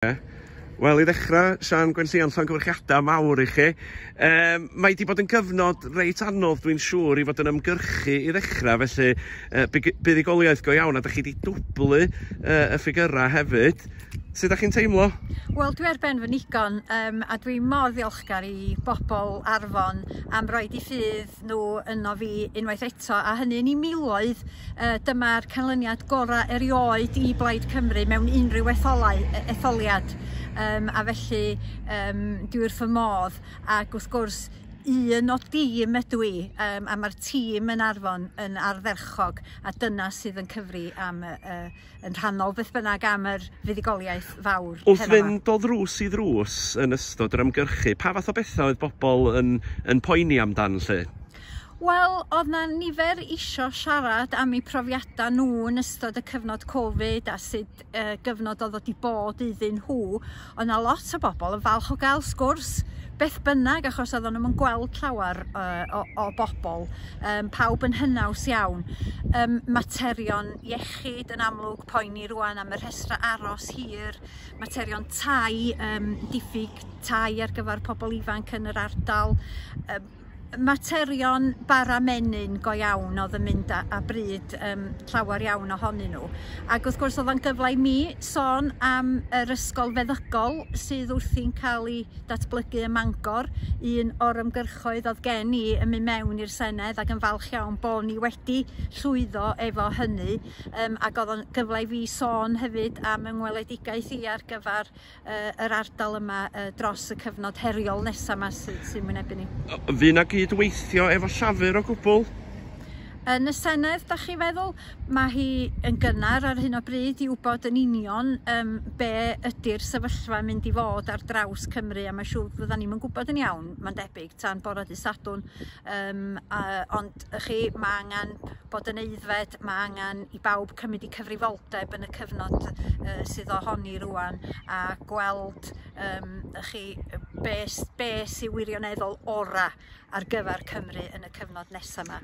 Wel, i ddechrau, Siân Gwenllion, llongyfarchiadau mawr i chi. Um, mae wedi bod yn gyfnod reit anodd, dwi'n siŵr, i fod yn ymgyrchu i ddechrau, felly uh, buddugoliaeth go iawn, a da chi wedi dwblu uh, y ffigurau hefyd. Sut ydych chi'n teimlo? Wel, dwi ar ben fy nigon um, a dwi mor ddiolchgar i bobl Arfon am roi i ffydd gweld nhw yno fi unwaith eto a hynny yn 'i miloedd yy dyma'r canlyniad gorau erioed i Blaid Cymru mewn unrhyw etholau e- etholiad yym a felly yym dwi wrth fy modd ac wrth gwrs un o dîm ydw i yym a ma'r tîm yn Arfon yn ardderchog a dyna sydd yn cyfri am y y yn rhannol beth bynnag am yr fuddugoliaeth fawr heno 'ma. Wrth fynd o ddrws i ddrws yn ystod yr ymgyrchu, pa fath o bethau oedd bobl yn yn poeni amdan 'lly? Wel, oedd 'na nifer isio siarad am eu profiadau nhw yn ystod y cyfnod Covid a sut yy gyfnod oedd o 'di bod iddyn nhw. Oedd 'na lot o bobl yn falch o gael sgwrs beth bynnag achos oedden nhw'm yn gweld llawer uh, o, o bobl, um, pawb yn hynaws iawn. Um, materion iechyd yn amlwg poeni rwan am y rhestra aros hir, materion tai, um, diffyg tai ar gyfer pobl ifanc yn yr ardal, um, materion bara menyn go iawn odd yn mynd a a bryd yym llawer iawn ohonyn nhw ag wrth gwrs odd o'n gyfle i mi sôn am yr ysgol feddygol sydd wrthi'n ca'l 'i datblygu ym Mangor un o'r ymgyrchoedd odd gen i yn myn' mewn i'r Senedd ag yn falch iawn bo' ni wedi llwyddo efo hynny yym ag odd o'n gyfle i fi sôn hefyd am yng ngweledigaeth i ar gyfar yy yr ardal yma yy dros y cyfnod heriol nesa' 'ma sy sy'n wynebu ni. Yy fydd 'na gyd-weithio efo Llafur o gwbwl? Yn y Senedd 'dach chi feddwl? Mae hi yn gynnar ar hyn o bryd i wybod yn union yym be' ydi'r sefyllfa yn mynd i fod ar draws Cymru a ma' siŵr fyddan ni'm yn gwybod yn iawn ma'n debyg tan bora dy' Sadwrn yym a ond y'chi ma' angan bod yn aeddfed ma' angan i bawb cymryd 'u cyfrifoldeb yn y cyfnod yy sydd ohoni rŵan a gweld yym y'ch chi yy be' s- be' sy wirioneddol ora' ar gyfar Cymru yn y cyfnod nesa' 'ma.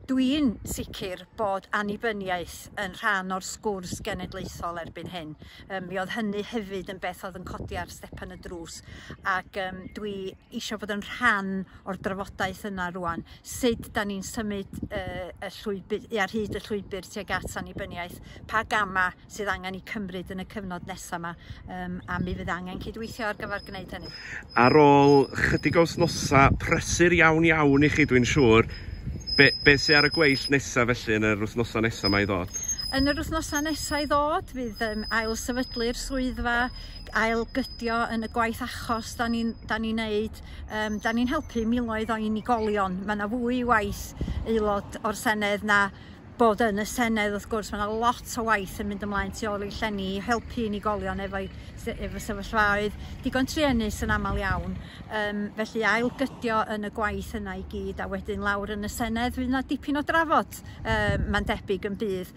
Dwi'n sicir bod annibyniaeth yn rhan o'r sgwrs genedlaethol erbyn hyn yym mi o'dd hynny hefyd yn beth o'dd yn codi ar stepan y drws ac yym dwi isio bod yn rhan o'r drafodaeth yna rwan, sut da ni'n symud uh, y llwybr, ar hyd y llwybr tuag at annibyniaeth, pa gama sydd angen i cymryd yn y cyfnod nesaf yma, um, a mi fydd angen cydweithio ar gyfer gwneud hynny. Ar ôl chydig o wsnosa prysur iawn iawn i chi dwi'n siŵr, be, be sydd ar y gweill nesaf felly yn yr wythnosa nesaf mae i ddod? Yn yr wythnosa nesaf i ddod fydd um, ail sefydlu'r swyddfa ailgydio yn y gwaith achos 'dan ni'n 'dan ni'n neud yym 'dan ni'n helpu miloedd o unigolion ma' 'na fwy i waith aelod o'r Senedd na bod yn y Senedd wrth gwrs ma' 'na lot o waith yn mynd ymlaen tu ôl i llenni i helpu unigolion efo'u sy- efo sefyllfaoedd digon truenus yn amal iawn yym felly ailgydio yn y gwaith yna i gyd a wedyn lawr yn y Senedd fydd 'na dipyn o drafod yy ma'n debyg yn bydd.